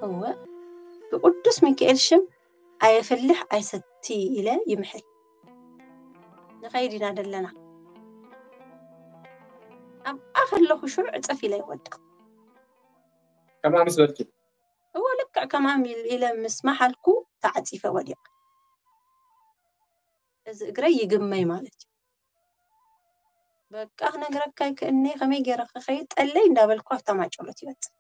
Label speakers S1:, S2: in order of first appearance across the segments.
S1: እወ ብቅዱስ ሚካኤል ሽም ኣየፍልሕ ኣይሰቲ ኢለ ይምሕል ንኸይድ ኢና ደለና ኣብኣ ከለኹ ሽዑ ዕፀፍ ኢለ ይወድቕ
S2: ከምኣ ምስ በልኪ እወ ልክዕ
S1: ከማን ኢለ ምስ መሓልኩ ተዓፂፈ ወዲቐ እዚ እግረይ ይግመይ ማለት እዩ በቃ ክነግረካ ይክእኔ ከመይ ገይረ ክኸይድ ጠለይ እንዳበልኩ ኣብታ ማጨሎት ይበፅሕ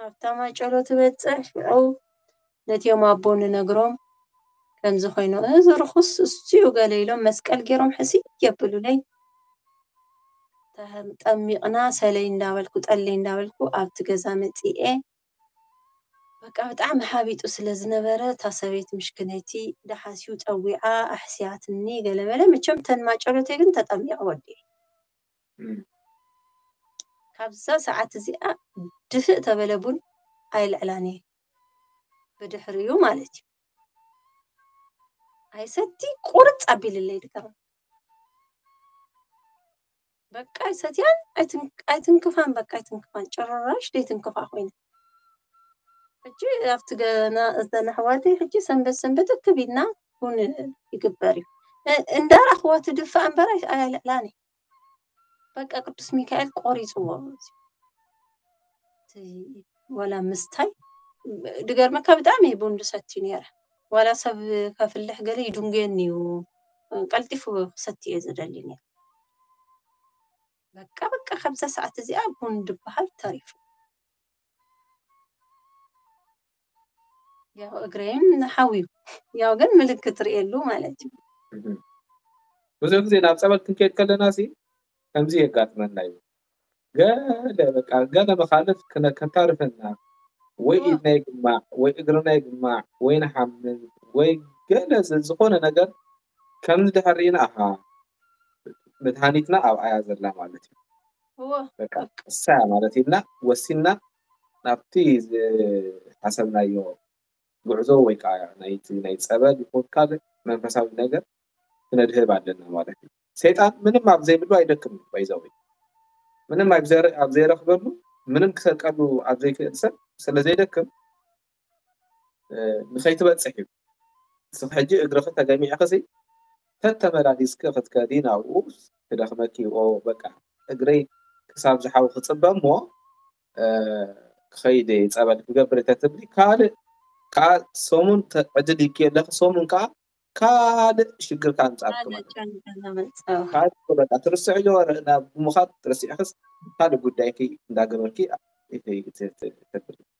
S1: ኣብታ ማጨሎት ይበፅሕ ሽዑ ነቲኦም ኣቦ ንነግሮም ከምዚ ኮይኑ እዚ ርኹስ እሱዩ ገለ ኢሎም መስቀል ገይሮም ሕስይ የብሉለይ ጠሚቕና ሰለይ እንዳበልኩ ጠለይ እንዳበልኩ ኣብቲ ገዛ መፂኤ በቃ ብጣዕሚ ሓቢጡ ስለ ዝነበረ እታ ሰበይቲ ምሽክነይቲ ዳሓስዩ ፀዊዓ ኣሕስያትኒ ገለመለ መቸም ተን ማጨሎተይ ግን ተጠሚቐ ወዲኤ ካብዛ ሰዓት እዚኣ ድፍእ ተበለ ቡን ኣይልዕላን እየ ብድሕሪኡ ማለት እዩ ኣይሰቲ ቁርፅ ኣቢልለይ ድካ በቃ ኣይሰትያን ኣይትንክፋን በቃ ኣይትንክፋን ጭራሽ ዘይትንክፋ ኮይነ ሕጂ ኣብቲ ገና እዘን ኣሕዋተይ ሕጂ ሰንበት ሰንበት እክብ ኢልና ውን ይግበር እዩ እንዳረኣኽዋ ትድፋእ እምበር ኣየልዕላን እዩ በቃ ቅዱስ ሚካኤል ቆሪፅዎ ዋላ ምስታይ ድገርመካ ብጣዕሚ እየ ቡን ዝሰቲ ነይረ ዋላ ሰብ ከፍልሕ ገለ ይድንጉየኒ እዩ ቀልጢፉ ክሰቲ እየ ዝደሊ ነይረ በቃ በቃ ካብዛ ሰዓት እዚኣ ቡን ድበሃል ተሪፉ ያው እግረይን ንሓውዩ ያው ግን ምልክት ርእየሉ ማለት
S2: እዩ ብዙሕ ጊዜ ናብ ጸበል ክንከድ ከለና ሲ ከምዚ የጋጥመና እዩ ገለ በቃ ገለ መኻልፍ ከታርፈና ወይ ኢድና ይግማዕ ወይ እግርና ይግማዕ ወይ ንሓምም ወይ ገለ ዝኾነ ነገር ከም ድሕሪና ኣሃ መድሃኒትና ኣብኣያ ዘላ ማለት እዩ በቃ
S1: ቅሳያ
S2: ማለት ኢልና ወሲና ናብቲ ዝሓሰብናዮ ጉዕዞ ወይ ክዓ ናይቲ ናይ ፀበል ይኹን ካልእ መንፈሳዊ ነገር ክነድህብ ኣለና ማለት እዩ። ሰይጣን ምንም ኣብ ዘይብሉ ኣይደክምን ባይ ዘ ወይ ምንም ኣብ ዘይረኽበሉ ምንም ክሰርቀሉ ኣብ ዘይክእል ሰብ ስለ ዘይደክም ንኸይትበጽሕ እዩ እስኺ ሕጂ እግርኺ ተገሚዕኺሲ ተተመላሊስኪ ክትከዲ ናብኡ ክደኽመኪ ኦ በቃ እግረይ ክሳብ ዝሓዊ ክጽበ እሞ ክኸይድ ጸበል ክገብር ተትብሊ ካልእ ከዓ ሰሙን ዕድል ይኪ ኣለኺ ሰሙን ከዓ ካልእ ሽግር ከዓ ምጻብኪ ማለት ካልእ በቃ ትርስዕዮ ናብ ምዃድ ትረሲዕክስ ካልእ ጉዳይኪ እንዳገበርኪ ተብሊ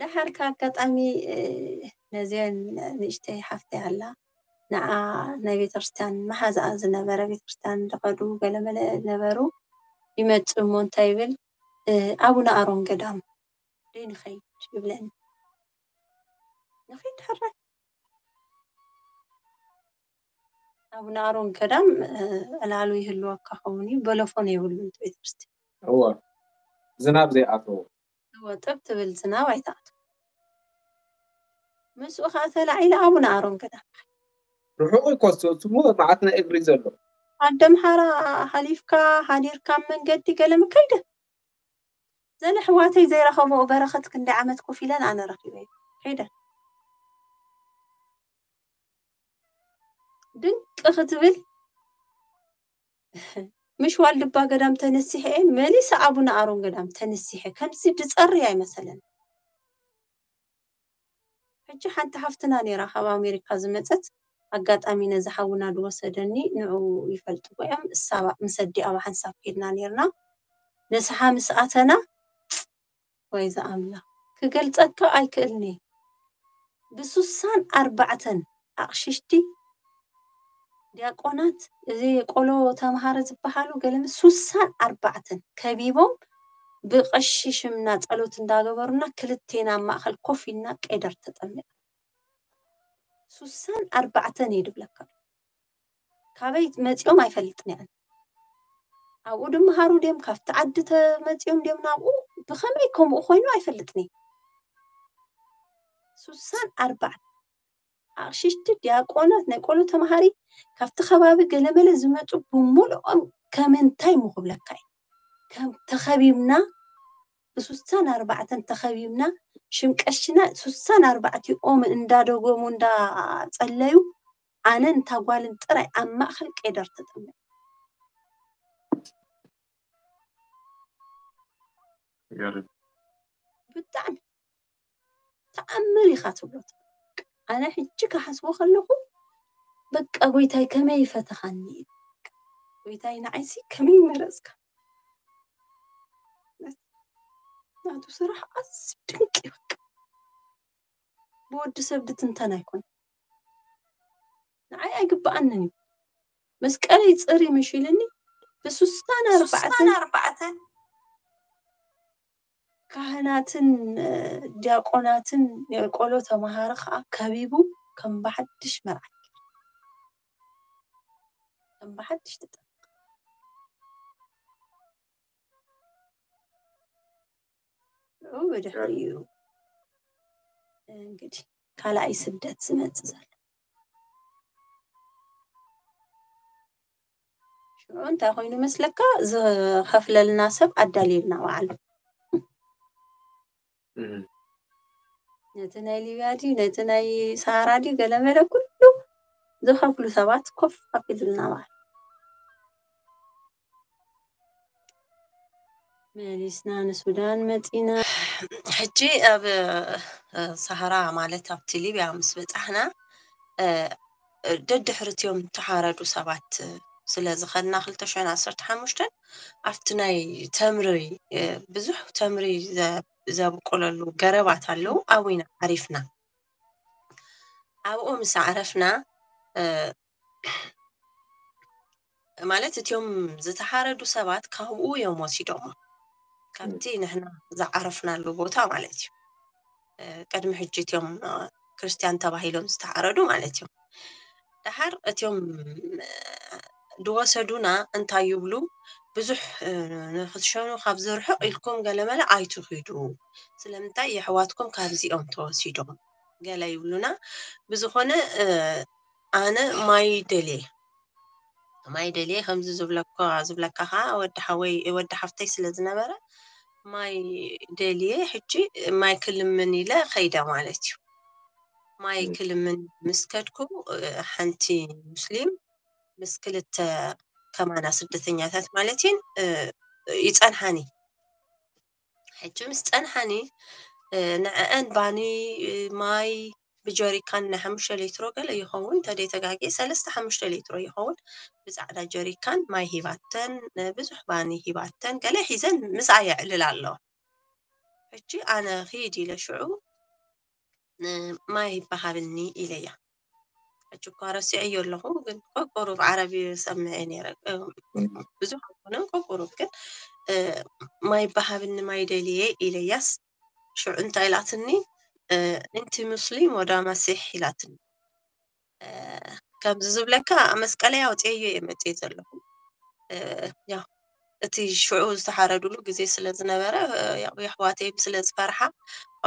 S1: ደሓር ካብ ኣጋጣሚ ነዚኤን ንእሽተይ ሓፍተይ ኣላ ንዓ ናይ ቤተክርስትያን መሓዛኣ ዝነበረ ቤተክርስትያን እንደኸዱ ገለመለ ነበሩ ይመጽእ እሞ እንታይ ይብል ኣቡነ ኣሮን ገዳም ደይ ንኸይድ ይብለኒ ንኸይድ ሕራይ ኣቡነ ኣሮን ገዳም ዕላሉ ይህልወካ ኸውን እዩ በለፎን የብሉን ቤተክርስትያን እወ
S2: ዝናብ ዘይኣተዎ እወ ጥብ
S1: ትብል ዝናብ ኣይትኣቱ። ምስኡ ኸኣ ተላዒለ ኣቡነ ኣሮን ገዳም ከድኩ። ርሑቕ
S2: እዩኮ እቲ ስሙር መዓት ናይ እግሪ ዘሎ። ኣደምሓራ
S1: ሓሊፍካ ሓዲርካ ኣብ መንገዲ ገለ ምከይደ ዘለ ኣሕዋተይ ዘይረኸበኦ በረኸት ክንደይ ዓመት ኮፍ ኢለን ኣነ ረኺበዮ ከይደ። ድንቅ ክትብል። ምሽ ዋልድባ ገዳም ተነሲሐ እየ መሊሰ ኣቡነ ኣሮን ገዳም ተነሲሐ ከምዚ ድፀሪ ኣይመሰለን ሕጂ ሓንቲ ሓፍትና ነይራ ካብ ኣሜሪካ ዝመፀት ኣጋጣሚ ነዚ ሓውና ዝወሰደኒ ንዑ ይፈልጥዎ እዮም እሳ ምስ ኣዲኣ ብሓንሳብ ከድና ነርና ንስሓ ምስ ኣተና ወይ ዝኣምላኽ ክገልጸካ ኣይክእልን'የ ብሱሳን ኣርባዕተን ኣቕሽሽቲ ዲያቆናት እዚ ቆሎ ተምሃረ ዝበሃሉ ገለመ ሱሳን ኣርባዕተን ከቢቦም ብቐሺ ሽምና ጸሎት እንዳገበሩና ክልቴና ኣብ ማእከል ኮፍ ኢልና ቄደር ተጠሚቕና ሱሳን ኣርባዕተን እየ ድብለካ ካበይ መጺኦም ኣይፈልጥን እየ ኣነ። ኣብኡ ድመሃሩ ድዮም ካብቲ ዓዲ ተመጺኦም ድዮም ናብኡ ብኸመይ ከምኡ ኮይኑ ኣይፈልጥን እየ። ስሳን ኣርባዕተ ኣቕሽሽቲ ዲያቆናት ናይ ቆሎ ተምሃሪ ካብቲ ከባቢ ገለመለ ዝመጹ ብምልኦም ከም እንታይ ምኹብለካ እዩ ከም ተኸቢብና ብስሳን ኣርባዕተን ተኸቢብና ሽምቀሽና ስሳን ኣርባዕቲኦም እንዳደገሙ እንዳጸለዩ ኣነን እታ ጓልን ጥራይ ኣብ ማእከል ቄደር ተጠሚቕና።
S2: ይገርም።
S1: ብጣዕሚ ተኣምር ኢኻ ትብሎ ትብል። ኣነ ሕጂ ክሓስቦ ከለኹ በቃ ጎይታይ ከመይ ፈተኻኒ እዩ። ጎይታይ ንዓይሲ ከመይ መረጽካ። ናቱ ስራሕ ኣዝዩ ድንቅ እዩ በቃ። ብወዲ ሰብ ድትንተን ኣይኮነን ንዓይ ኣይግብኣንን እዩ መስቀለይ ጽሪ ምሽ ኢልኒ ብስሳን ኣርባዕተን ካህናትን ዲያቆናትን ናይ ቆሎ ተምሃሮ ከዓ ከቢቡ ከም ብሓድሽ መርዓት ከም ብሓድሽ ተጠ ንዑ ብድሕሪኡ እንግዲህ ካልኣይ ስደት ዝመፅእ ዘሎ ሽዑ እንታይ ኮይኑ መስለካ ዝኸፍለልና ሰብ ኣዳልየልና በዓሉ እም፣ ነቲ ናይ ሊብያ ድዩ ነቲ ናይ ሰሃራ ድዩ ገለመለ ኩሉ ዝኸፍሉ ሰባት ኮፍ ኣቢሉልና በዓሉ መሊስና ንሱዳን መፂና ሕጂ ኣብ ሰሃራ ማለት ኣብቲ ሊብያ ምስ በፃሕና ደድሕርትዮም ተሓረዱ ሰባት ስለ ዝኸድና ክልተ ሽሕን ዓሰርተ ሓሙሽተን ኣብቲ ናይ ተምሪ ብዙሕ ተምሪ ዘብቆለሉ ገረባት ኣለዉ ኣብኡ ኢና ዓሪፍና ኣብኡ ምስ ዓረፍና ማለት እትዮም ዝተሓረዱ ሰባት ካብኡ እዮም ወሲዶሞ ካብቲ ንሕና ዝዓረፍናሉ ቦታ ማለት እዩ ቅድሚ ሕጂ እትዮም ክርስትያን ተባሂሎም ዝተሓረዱ ማለት እዮም ድሓር እትዮም ድወሰዱና እንታይ ይብሉ ብዙሕ ንክትሸኑ ካብ ዝርሕቕ ኢልኩም ገለመለ ኣይትኺዱ ስለምንታይ የሕዋትኩም ካብዚኦም ተወሲዶም ገለ ይብሉና ብዝኾነ ኣነ ማይ ደልየ ማይ ደልየ ከምዚ ዝብለካ ዝብለካ ከዓ ወዲ ሓወይ ወዲ ሓፍተይ ስለ ዝነበረ ማይ ደልየ ሕጂ ማይ ክልምን ኢለ ከይደ ማለት እዩ ማይ ክልምን ምስ ከድኩ ሓንቲ ሙስሊም ምስ ክልተ ከማና ስደተኛታት ማለት እየን ይፀንሓኒ ሕጂ ምስ ጸንሓኒ ንዕዐን ባኒ ማይ ብጀሪካን ናይ ሓሙሽተ ሌትሮ ገለ ይኸውን እንተደይ ተጋጊየ ሰለስተ ሓሙሽተ ሌትሮ ይኸውን ብጻዕዳ ጀሪካን ማይ ሂባተን ብዙሕ ባኒ ሂባተን ገለ ሒዘን ምስኣ የዕልል ኣለዋ ሕጂ ኣነ ኺድ ኢለ ሽዑ ማይ ይበሃብኒ ኢለያ ሕጂ እኳ ረሲዐዮ ኣለኹ ግን ቆቁሩብ ዓረብ ሰምዐ ነይረ ብዙሕ ኣይኮነን ቆቁሩብ ግን ማይ በሃብኒ ማይ ደልየ ኢለያስ ሽዑ እንታይ ኢላትኒ እንቲ ሙስሊም ወዳ መሲሕ ኢላትኒ ከምዚ ዝብለካ መስቀለይ ኣውፅየዮ እየ መፅየ ዘለኹ ያው እቲ ሽዑ ዝተሓረዱሉ ግዜ ስለ ዝነበረ የሕዋተይም ስለ ዝፈርሓ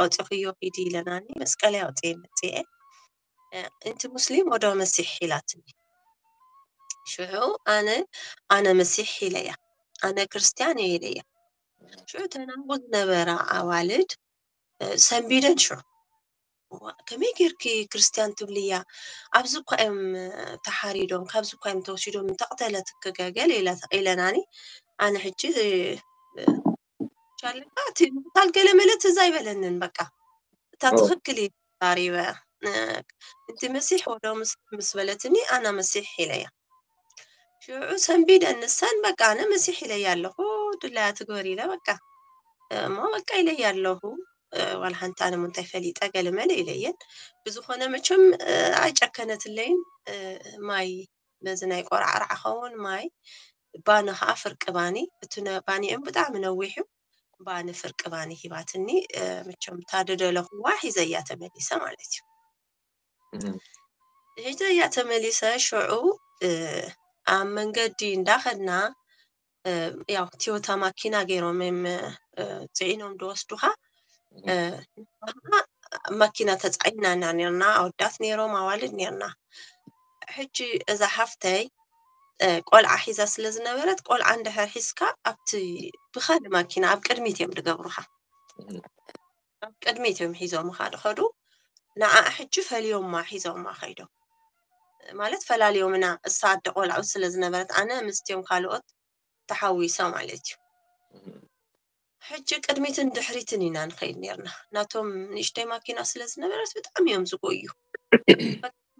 S1: ኣውጺኽዮ ኪዲ ኢለናኒ መስቀለይ ኣውጺኤ መጺኤ እንቲ ሙስሊም ወዶ መሲሕ ኢላትኒ ሽዑ ኣነ ኣነ መሲሕ ኢለያ ኣነ ክርስትያን እየ ኢለያ ሽዑ ተናቡ ዝነበራ ኣዋልድ ሰንቢደን ሽዑ እዋእ ከመይ ጌርኪ ክርስትያን ትብልያ ኣብዚ እኳ እዮም ተሓሪዶም ካብዚ እኳ እዮም ተወሲዶም እንተቕተለትኪ ገገል ኢለናኒ ኣነ ሕጂ ቻለካ እቲ ምቕታል ገለ መለ ትዝ ኣይበለንን በቃ እታ ትኽክል እዩ ተዛሪበ እቲ መሲሕ ወዶ ምስ በለትኒ ኣና መሲሕ ኢለያ ሽዑ ሰንቢደ ንሰን በቃ ኣነ መሲሕ ኢለያ ኣለኹ ድላያ ትግበር ኢለ በቃ እሞ በቃ ኢለያ ኣለኹ ዋላ ሓንቲ ኣነ ምንታይ ፈሊጠ ገለመለ ኢለየን ብዝኾነ መቸም ኣይጨከነትለይን ማይ በዚ ናይ ቆራዕራዕ ኸውን ማይ ባኒ ከዓ ፍርቂ ባኒ እቲ ባኒኦም ብጣዕሚ ነዊሕ እዩ ባኒ ፍርቂ ባኒ ሂባትኒ መቸም ታደደለኹዋ ሒዘያ ተመሊሰ ማለት እዩ ሒጀያ ተመሊሰ ሽዑ ኣብ መንገዲ እንዳኸድና ያው ትዮታ ማኪና ገይሮም እዮም ፅዒኖም ድወስዱኻ ማኪና ተፃዒና ኢና ነርና ኣወዳት ነይሮም ኣዋልድ ነርና ሕጂ እዛ ሓፍተይ ቆልዓ ሒዛ ስለ ዝነበረት ቆልዓ እንድሕር ሒዝካ ኣብቲ ብኻሊ ማኪና ኣብ ቅድሚት እዮም ዝገብሩኻ ናብ ቅድሚት እዮም ሒዞምኻ ድኸዱ ንዓ ሕጂ ፈሊዮማ ሒዞማ ከይዶም ማለት ፈላልዮምና እሳ ኣደ ቆልዑ ስለ ዝነበረት ኣነ ምስቲዮም ካልኦት ተሓዊሰ ማለት እዩ ሕጂ ቅድሚትን ድሕሪትን ኢና ንኸይድ ነርና ናቶም ንእሽተይ ማኪና ስለ ዝነበረት ብጣዕሚ እዮም ዝጎዩ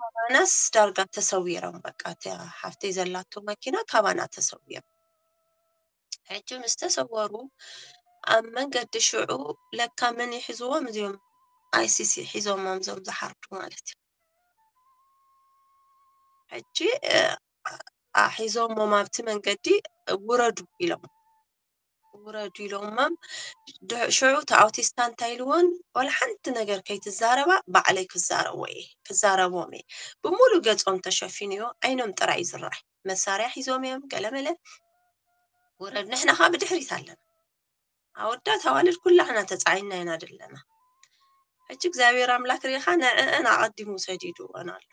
S1: ካባናስ ዳርጋ ተሰዊሮም በቃ እቲያ ሓፍተይ ዘላቶ ማኪና ካባና ተሰዊሮም ሕጂ ምስ ተሰወሩ ኣብ መንገዲ ሽዑ ለካ መን ይሕዝዎም እዚኦም ኣይሲሲ ሒዞሞም እዞም ዝሓርዱ ማለት እዩ ሕጂ ሒዞሞም ኣብቲ መንገዲ ውረዱ ኢሎም ውረዱ ኢሎሞም ሽዑ እቲ ኣውቲስታ እንታይ ኢልዎን ዋላ ሓንቲ ነገር ከይትዛረባ ባዕለይ ክዛረቦ እየ ክዛረቦም እየ ብምሉእ ገፆም ተሸፊኑ እዮ ዓይኖም ጥራይ እዩ ዝረኣይ መሳርያ ሒዞም እዮም ገለመለ ውረድ ንሕና ከዓ ብድሕሪት ኣለና ኣወዳት ኣዋልድ ኩላሕና ተፃዒና ኢና ዘለና ሕጂ እግዚኣብሔር ኣምላክ ሪኢኻ ንዕአን ኣቐዲሙ ሰዲድወን ኣሎ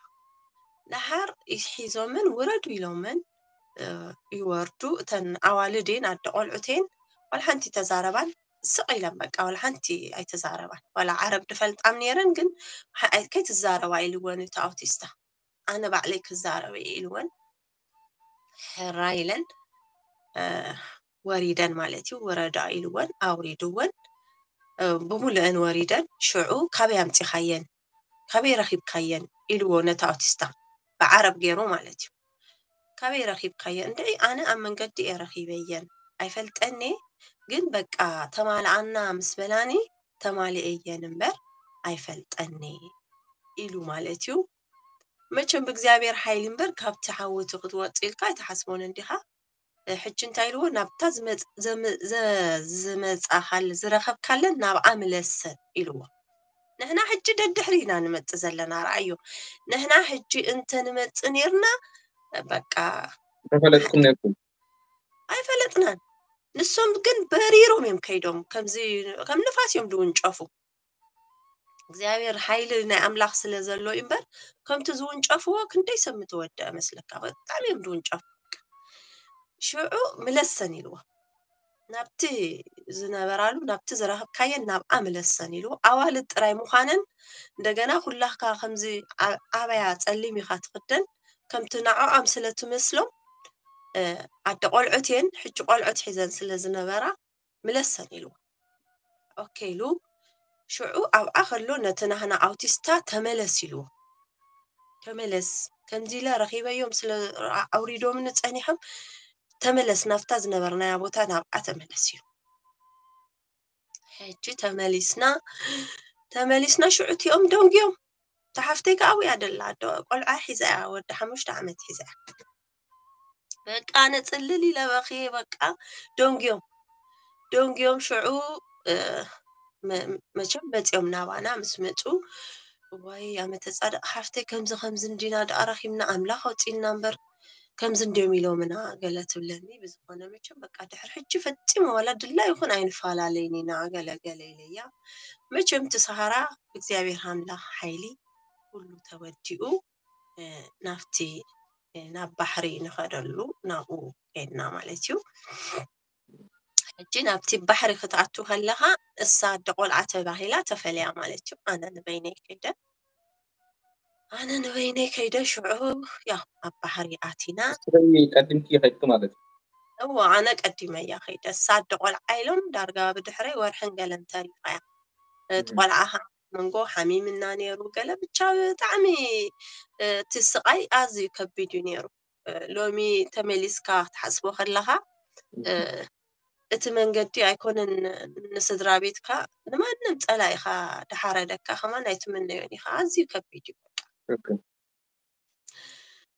S1: ደሓር ሒዞመን ውረዱ ኢሎመን ይወርዱ እተን ኣዋልድ እየን ኣደ ቆልዑት እየን ዋላ ሓንቲ ተዛረባን ስቕ ኢለን በቃ ዋላ ሓንቲ ኣይተዛረባን ዋላ ዓረብ ድፈልጣም ነይረን ግን ከይትዛረባ ኢልወን እቲ ኣውቲስታ ኣነ ባዕለይ ክዛረብ እየ ኢልወን ሕራይ ኢለን ወሪደን ማለት እዩ ውረዳ ኢልወን ኣውሪድወን ብሙሉአን ወሪደን ሽዑ ካበይ ኣምፂኻየን ካበይ ረኺብካየን ኢልዎ ነቲ ኣውቲስታ ብዓረብ ገይሩ ማለት እዩ ካበይ ረኺብካየን እንድዒ ኣነ ኣብ መንገዲ እየ ረኺበየን ኣይፈልጠኒ ግን በቃ ተማልኣና ምስ በላኒ ተማሊኤ እየ እምበር ኣይፈልጠንይ ኢሉ ማለት እዩ መቸም ብእግዚኣብሔር ሓይሊ እምበር ካብቲ ሓዊ እቲ ክትወፅ ኢልካ ኣይትሓስቦን እንዲኻ ሕጂ እንታይ ኢልዎ ናብታ ዝመፃኻለ ዝረኸብካለን ናብኣ ምለሰን ኢልዎ ንሕና ሕጂ ደድሕሪ ኢና ንመፅ ዘለና ረኣዮ ንሕና ሕጂ እንተ ንመፅ ነርና በቃ ተፈለጥኩም
S2: ነርኩም ኣይፈለጥናን
S1: ንሶም ግን በሪሮም እዮም ከይዶም ከምዚ ከም ንፋስ እዮም ዝውንጨፉ እግዚኣብሔር ሓይሊ ናይ ኣምላኽ ስለ ዘሎ እዩ እምበር ከምቲ ዝውንጨፍዎ ክንደይ ሰብ ምተወደአ መስለካ ብጣዕሚ እዮም ዝውንጨፉ ሽዑ ምለሰን ኢልዎ ናብቲ ዝነበራሉ ናብቲ ዝረኸብካየን ናብኣ ምለሰን ኢሉ ኣዋልድ ጥራይ ምዃነን እንደገና ኩላካ ከምዚ ኣ- ኣበያ ጸሊም ኢኻ ትኽደን ከምቲ ንዕኦም ስለ ትመስሎም እ፣ ኣደ ቆልዑት እየን ሕጂ ቆልዑት ሒዘን ስለ ዝነበራ ምለሰን ኢሉ ኦኬ ኢሉ ሽዑ ኣብኣ ከሎ ነቲ ናህና ኣውቲስታ ተመለስ ኢልዎ ተመለስ ከምዚ ኢለ ረኺበዮም ስለ ኣውሪዶምኒ ጸኒሖም ተመለስ ናብታ ዝነበርናያ ቦታ ናብኣ ተመለስ ኢሉ ሕጂ ተመሊስና ተመሊስና ሽዑ እቲኦም ደንጉዮም ተሓፍተይ ከዓ ኣብያ ደላ ቆልዓ ሒዛ እያ ወዲ ሓሙሽተ ዓመት ሒዛ እያ በቃ ኣነ ጽልል ኢለ በኽየ በቃ ደንጉዮም ደንጉዮም ሽዑ እ፣ መ- መቸም መጺኦም ናባና ምስ መጹ ዋይ ኣመተ ጻድቅ ሓፍተይ ከምዚ ከምዚ እንዲና ደኣ ረኺብና ኣምላኽ ኣውጺእና እምበር ከምዚ እንዲዮም ኢሎምና ገለ ትብለኒ ብዝኾነ መቸም በቃ ድሕሪ ሕጂ ፈጺሙ ዋላ ድላ ይኹን ኣይንፈላለይን ኢና ገለ ገለ ኢለያ መቸም እቲ ሰሃራ ብእግዚኣብሔር ኣምላኽ ሓይሊ ኩሉ ተወዲኡ ናብቲ ናብ ባሕሪ ንኸደሉ ናብኡ ኬድና ማለት እዩ ሕጂ ናብቲ ባሕሪ ክትኣቱ ከለኻ እሳ ኣደ ቆልዓ ተባሂላ ተፈልያ ማለት እዩ ኣነ ንበይነይ ከይደ ኣነ ንበይነይ ከይደ ሽዑ ያው ኣብ ባሕሪ ኣቲና ቀድምኪ
S2: ከይድኪ ማለት እዩ እዎ ኣነ
S1: ቀዲመ እያ ከይደ እሳ ኣደ ቆልዓ ኢሎም ዳርጋ ብድሕረይ ወርሕን ገለን ተሪፋ እያ እቲ ቆልዓ መንጎ ሓሚምና ነይሩ ገለ ብቻ ብጣዕሚ እቲ ስቓይ ኣዝዩ ከቢድ እዩ ነይሩ ሎሚ ተመሊስካ ክትሓስቦ ከለኻ እቲ መንገዲ ኣይኮነን ንስድራ ቤትካ ንማንም ፀላኢኻ ድሓረደካ ከማን ኣይትምነዮን ኢኻ ኣዝዩ ከቢድ እዩ በቃ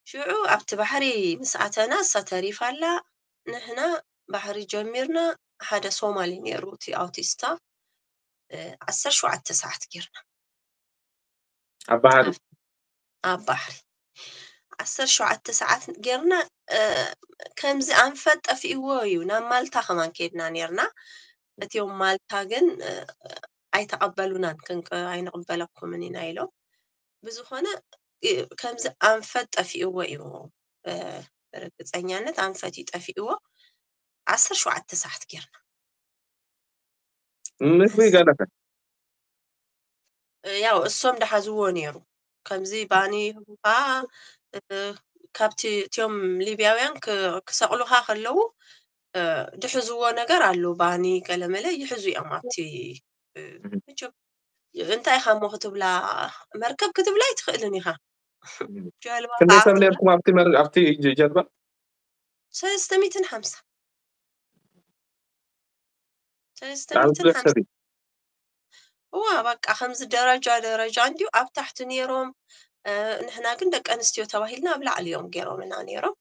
S1: ሽዑ ኣብቲ ባሕሪ ምስ ኣተና እሳ ተሪፋ ኣላ ንሕና ባሕሪ ጀሚርና ሓደ ሶማሊ ነይሩ እቲ ኣውቲስታ ዓሰርተ ሸውዓተ ሰዓት ጌርና ኣብ ባሕሪ ኣብ ባሕሪ ዓሰርተ ሸውዓተ ሰዓት ጌርና ከምዚ ኣንፈት ጠፊእዎ እዩ ናብ ማልታ ከማን ከድና ነርና እትዮም ማልታ ግን ኣይተቐበሉናን ክንቀ ኣይንቕበለኩምን ኢና ኢሎም ብዝኾነ ከምዚ ኣንፈት ጠፊእዎ እዩ ርግፀኛነት ኣንፈት እዩ ጠፊእዎ ዓሰርተ ሸውዓተ ሰዓት ጌርና
S2: ምንስ ንስኻ ገለፈ
S1: ያው እሶም ዳሓዝዎ ነይሩ ከምዚ ባኒ ህቡካ እ፣ ካብቲ እትዮም ሊብያውያን ክ- ክሰቅሉኻ ከለዉ እ፣ ድሕዝዎ ነገር ኣሎ ባኒ ገለመለ ይሕዙ እዮም ኣብቲ እ፣ መቸም እንታይ ኢኻ እሞ ክትብላ መርከብ ክትብላ ኣይትኽእልን ኢኻ ጀልባ ክንደይ ከዓ ሰብ ክትብላ ነርኩም
S2: ኣብቲ መር- ኣብቲ ጀ- ጀልባ ሰለስተ ሚእትን
S1: ሓምሳ
S2: ብጣዕሚ
S1: ሰለስተሚትን ብዙሕ ሓምሳ ሰብ እዩ እዋ በቃ ከምዚ ደረጃ ደረጃ እንዲዩ ኣብ ታሕቲ ነይሮም እ፣ ንሕና ግን ደቂ ኣንስትዮ ተባሂልና ኣብ ላዕሊ እዮም ገይሮምና ነይሮም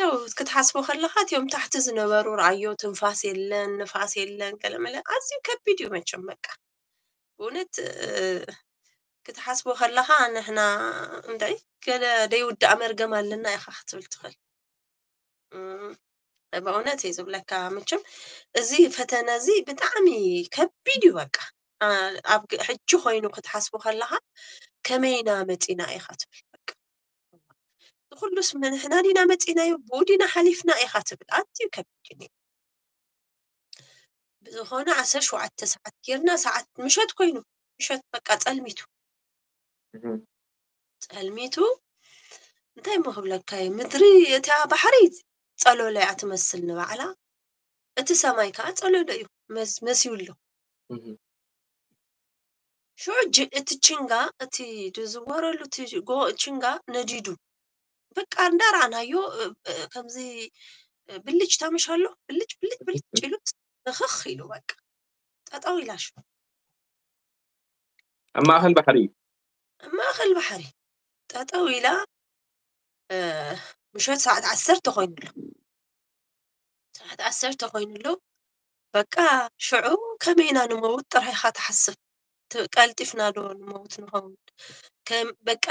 S1: ያው ክትሓስቦ ከለካ እትዮም ታሕቲ ዝነበሩ ርኣዮ ትንፋስ የለን ንፋስ የለን ገለመለ ኣዝዩ ከቢድ እዩ መቸም በቃ ብእውነት እ፣ ክትሓስቦ ከለካ ንሕና እንታይ ገለ ደይውዳእ መርገም ኣለና ኢካ ክትብል ትኽእል እም፣ በእውነት እየ ዝብለካ ምችም እዚ ፈተነ እዚ ብጣዕሚ ከቢድ እዩ በቃ ኣብ ሕጂ ኮይኑ ክትሓስቡ ከለካ ከመይ ኢና መፂና ኢካ ትብል በቃ ንኩሉስ ንሕና ዲና መፂናዮ ብኡ ዲና ሓሊፍና ኢካ ትብል ኣዝዩ ከቢድ እዩ ብዝኮነ ዓሰርተ ሸውዓተ ሰዓት ጌርና ሰዓት ምሸት ኮይኑ ምሸት በቃ ፀልሚቱ ጸልሚቱ እንታይ እሞ ክብለካ እዩ ምድሪ እታ ባሕሪ ጸሎለ እያ ትመስል ንባዕላ እቲ ሰማይ ከዓ ጸሎሎ እዩ መስ- መሲሉ ኣሎ እህ፣ ሽዑ ጅ- እቲ ችንጋ እቲ ዝዝወረሉ እቲ ጎ- ችንጋ ነዲዱ በቃ እንዳረኣናዮ እ፣ እ፣ ከምዚ እ፣ ብልጭ ታምሽ ኣሎ ብልጭ ብልጭ ብልጭ ኢሉ ንኽኽ ኢሉ በቃ ጠጠው ኢላ ሽዑ
S2: ኣብ ማእኸል ባሕሪ እዩ ኣብ ማእከል ባሕሪ ጠጠው
S1: ኢላ ምሸት ሰዓት ዓሰርተ ኮይኑ ኣሎ ሰዓት ዓሰርተ ኮይኑ ኣሎ በቃ ሽዑ ከመይ ኢና ንመውት ጥራይካ ትሓስብ ቀልጢፍና ዶ ንመውት ንኸውን በቃ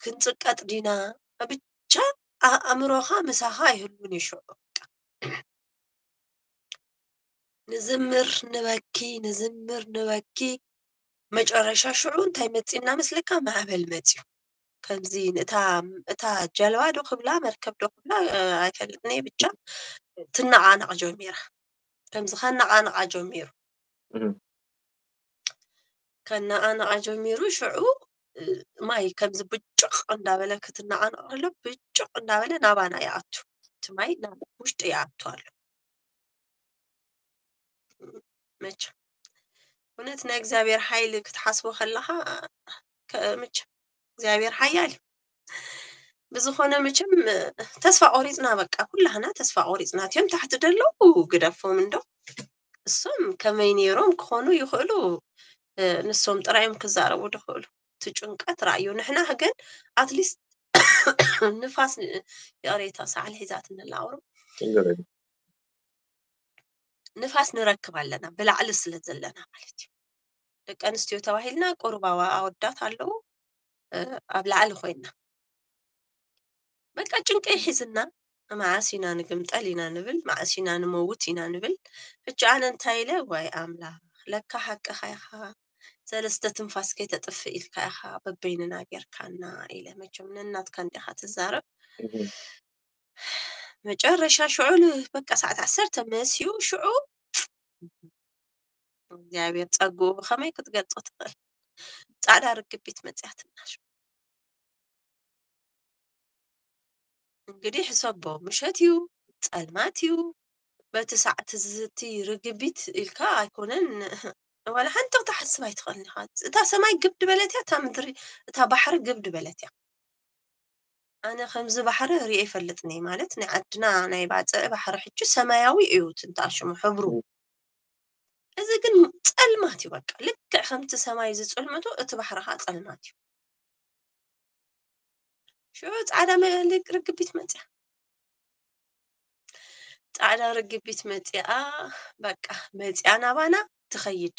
S1: ክንፅቀጥ ዲና ብቻ ኣእምሮኻ ምሳኻ ኣይህሉን እዩ ሽዑ ንዝምር ንበኪ ንዝምር ንበኪ መጨረሻ ሽዑ እንታይ መጺእና መስለካ ማዕበል መጺኡ ከምዚ ንእታ እታ ጀልባ ዶ ክብላ መርከብ ዶ ክብላ ኣይፈልጥን እየ ብቻ ትነቓነቕ ጀሚራ ከምዚ ከነቓነቓ ጀሚሩ ከነቓነቓ ጀሚሩ ሽዑ ማይ ከምዚ ብጭቕ እንዳበለ ክትነቓነቕ ከሎ ብጭቕ እንዳበለ ናባና ይኣቱ እቲ ማይ ናብ ውሽጢ ይኣቱ ኣሎ መቸም እውነት ናይ እግዚኣብሔር ሓይሊ ክትሓስቦ ከለኻ መቸም እግዚኣብሔር ሓያል እዩ ብዝኾነ መቸም ተስፋ ቆሪፅና በቃ ኩላህና ተስፋ ቆሪፅና እትዮም ታሕቲ ደለው ግደፎም እንዶ እሶም ከመይ ነይሮም ክኾኑ ይኽእሉ ንሶም ጥራዮም ክዛረቡ ድኽእሉ እቲ ጭንቀት ራእዩ ንሕና ግን ኣትሊስት ንፋስ ይቕሬታ ሳዕሊ ሒዛትኒ ኣላ ቁሩብ ንፋስ ንረክብ ኣለና ብላዕሊ ስለ ዘለና ማለት እዩ ደቂ ኣንስትዮ ተባሂልና ቁሩብ ኣወዳት ኣለዉ ኣብ ላዕሊ ኮይና በቃ ጭንቀ ይሒዝና መዓስ ኢና ንግምጠል ኢና ንብል መዓስ ኢና ንመውት ኢና ንብል ሕጂ ኣነ እንታይ ኢለ ዋይ ኣምላኽ ለካ ሓቅኻ ኢኻ ሰለስተ ትንፋስ ከይተጥፍእ ኢልካ ኢኻ በበይንና ጌርካና ኢለ መቸም ነናትካ እንዲኻ ትዛረብ መጨረሻ ሽዑ በቃ ሰዓት ዓሰርተ መሲኡ ሽዑ እግዚኣብሔር ጸግኡ ብኸመይ ክትገልጾ ትኽእል ጻዕዳ ርግቢት መጽያትና ሽዑ እንግዲህ ሕሰቦ ምሸት እዩ ጸልማት እዩ በቲ ሰዓት ዝቲ ርግቢት ኢልካ ኣይኮነን ዋላ ሓንቲ ክትሓስብ ኣይትኽእልን ኢኻ እታ ሰማይ ግብድ በለት እያ እታ ምድሪ እታ ባሕሪ ግብድ በለት እያ ኣነ ከምዚ ባሕሪ ሪኤ ኣይፈልጥን እየ ማለት ናይ ዓድና ናይ ባፅዕ ባሕሪ ሕጂ ሰማያዊ እዩ እቲ እንታ ሽሙ ሕብሩ እ- እዚ ግን ፀልማት እዩ በቃ ልክዕ ከምቲ ሰማይ ዝፅልምቶ እቲ ባሕሪ ከዓ ፀልማት እዩ ሽዑ ፃዕዳ መ- ርግቢት መፅያ ፃዕዳ ርግቢት መፅኣ በቃ መፅኣ ናባና ትኸይድ